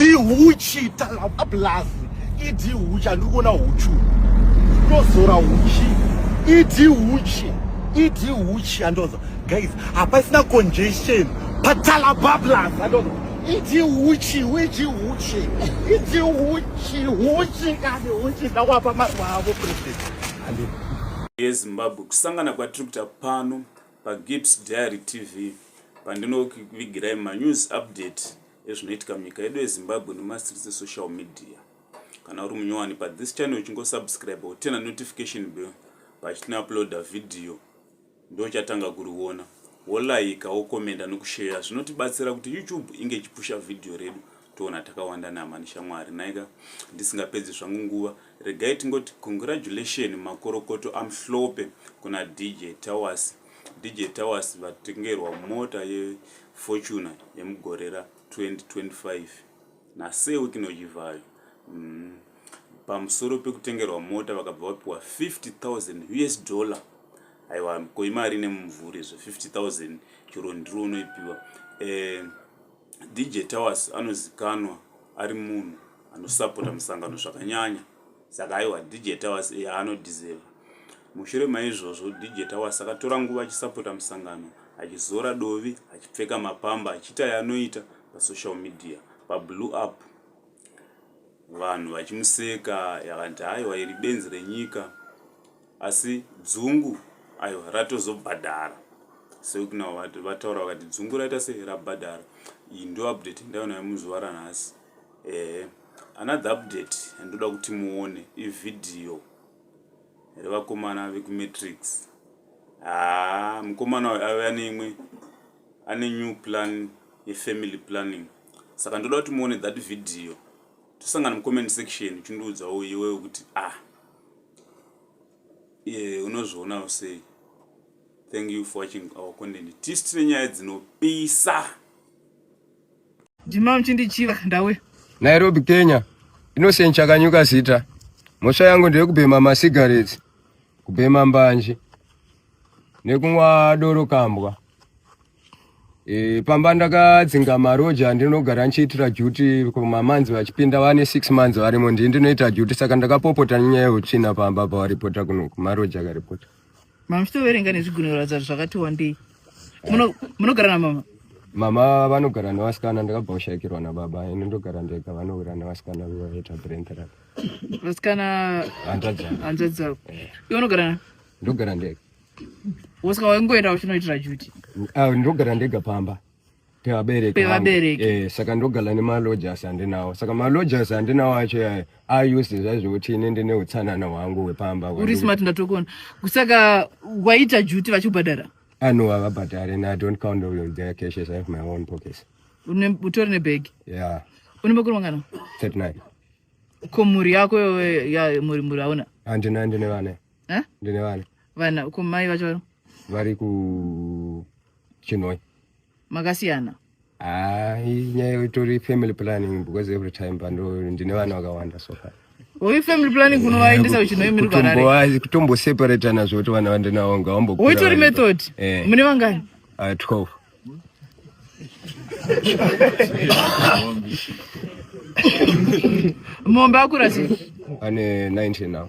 ihuchi talapa plus idi huchi andiri kuona huchu ndozora huchi idi huchi idi huchi andoza guys hapasina congestion patalapa plus andoza idi huchi idi huchi idi huchi huchi kani huchi ndawapa maruva avo president yezimbabwe kusangana kwatiri kuita pano pagips diary tv pandinovigirai manews update ezvinoitika munyika yedu yezimbabwe nemastreets esocial media kana uri munyowani pathis channel uchingosubscribe utena notification bell pachitinouploada vhidhiyo ndochatanga kuriona wolaika wokomenda nokusheya zvinotibatsira kuti youtube inge ichipusha vhidhiyo redu toona takawanda nama neshamwari naika ndisingapedzi zvangu nguva regai tingoti congratulation makorokoto amhlope kuna dj towers dj towers vatengerwa mota ye Fortuna yemugore ra 2025 naSeu Kinochivhayo mm, pamusoro pekutengerwa mota vakabva vapiwa 50,000 us dollar aiwa ko imari ine mumvuri izvo 50000 chero ndiri unoipiwa eh, dj towers anozikanwa ari munhu anosapota musangano zvakanyanya saka aiwa dj towers iye anodhizever mushure maizvozvo dj towers akatora nguva achisapota musangano achizora dovi achipfeka mapamba achiita yaanoita pasocial media pablue up vanhu vachimuseka yakanti aiwa iri benzi renyika asi dzungu aiwa ratozobhadhara seukunao vataura vakati dzungu raita sei rabhadhara iyi ndoupdate ndaonayo muzuva ranhasi eh another update andoda kuti muone ivideo revakomana vekumatrix haa ah, mukomana uyu ave ane imwe ane new plan yefamily planning saka ndoda kuti muone that video tosangana mucomment section uchindiudzawo iwewo kuti ah ye unozvionawo sei thank you for watching our content tisi tine nyaya dzinopisa Ndima mchindichiva ndawe. Nairobi Kenya. Innocent chakanyuka zita. Mhosva yangu ndeyekubhema masigarettes, kubhema mbanje nekunwa doro kambwa. E, pamba ndakadzinga maroja andinogara ndichiitira duty kumamanzi vachipinda vane 6 months varimo ndii ndinoita duty saka ndakapopota nyaya yeutsvina pamba pawaripota kuno kumaroja akaripota Mama muchitoverenga nezvigunwe kuratidza kuti zvakati wandei. Muno- Munogara namama? mama vanogara nevasikana ndakabva kushaikirwa nababa ini ndogara ndega vanogara nevasikana vaita brent rap Vasikana hanzvadzi yangu. hanzvadzi dzako. Iwe unogara na? ndogara ndega Wosaka waingoenda uchinoitira duty. Ah, ndogara ndega pamba pevabereki pevabereki eh, saka ndogala nemalojas handinawo saka malojas handinawo acho yayo ause zvaizvekuti ine ndine utsanana hwangu hwepamba uri smart ndatokona saka waita juti vachikubhadhara ano ah, havabhadhare na don't count on their cashes i have my own pockets utori nebhegi yeah une makuru mangana 39 ko mhuri yako ya mhuri mhuri hauna handina ndine vana eh? ndine vana vana ko mai vacho vari ku chinoi makasiyana ah, nyaya itori family planning because every time pando ndine vana vakawanda so far Uyu family planning kunovaendesa uchinoi muri kwarare kutombo separate nazvo kuti vana vandinawo ngavambo uitori method eh. mune vangani uh, ah, 12 mombe akurasi ane 19 now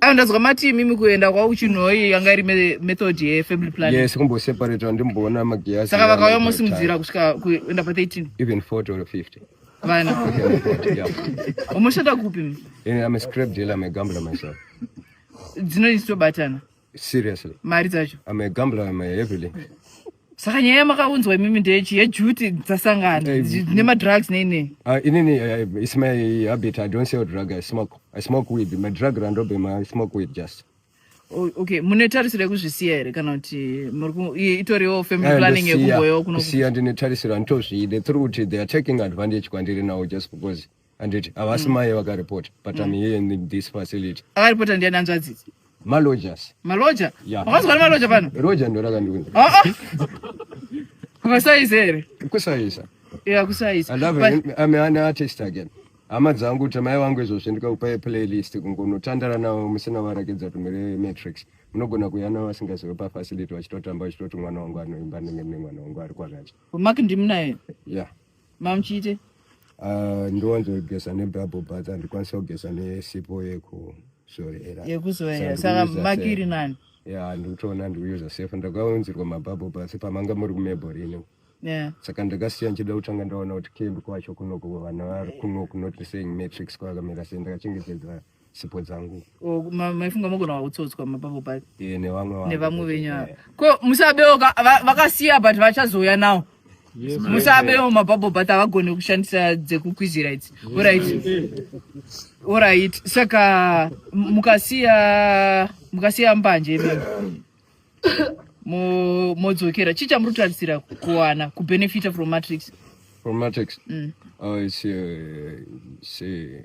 Ayo ndazwa mati mimi kuenda kwa uchinoi yanga iri method ye family planning. Yes, kumbo separate ndimboona magiyasi. Saka vakauya musi mudzira kusvika kuenda pa 13. Even 40 or 50. Vana. Umoshanda kupi mi? Eh, I'm a scrap dealer, I'm a gambler myself. Dzino isto batana. Seriously. Mari dzacho. I'm a gambler, I'm a heavily. saka nyaya yamakaunzwa imimi ndechi yejuti dzasangana eh, nemadrugs neine ah, inini eh, its my habit i don't sell drug i smoke i smoke weed my drug randobema i smoke weed just okay mune tarisiro yekuzvisiya here kana kuti itoriwo family eh, planning yekumboyo kusiya ndine tarisiro anditozviide through kuti they are taking advantage kwandiri now just because handiti havasi mai vakaripota but I'm here in this facility akaripota ndiani hanzvadzidzi malojas maloja Yeah. wakazwa nemaloja pano roja ndo rakandiunza Ah, ah. vasayizi here kusaisa ya kusayizi I love But- it. I'm an artist again. Hama dzangu kuti mai vangu izvozvi ndikakupai playlist kungonotandara navo musina varakidza kuti muri matrix munogona kuuya navo vasingazive pafacility vachitotamba vachitoti mwana wangu anoimba ndenge mune mwana wangu ari kwakati mark ndimunaye yeah Mamuchite. Ah, ndiwanzogeza nebhabho but andikwanisa kugeza nesipo yeko zorera yekuzoera saka makiri nani ya ndikutoona ndikuyuza safe ndakaunzirwa mabhabho pasi pamanga muri kumebho rino saka ndakasiya ndichida kutanga ndaona kuti kembi kwacho kunoko vana vari kunoko not saying matrix kwakamira sei ndakachengetedza sipo dzangu Oh, ma- maifunga mogona kutsotswa mapapo paye Eh, nevamwe vangu. nevamwe venyu ava Eh, ko musabewo ka- va- vakasiya but vachazouya nawo musabewo mapapo but havagone kushandisa dzekukwizira idzi orit orit saka m- mukasiya mukasiya mbanje imimi Mo- modzokera chii chamuri kutarisira kuwana kubenefita from matrix from matrix Mm. oh it's uh, it's uh,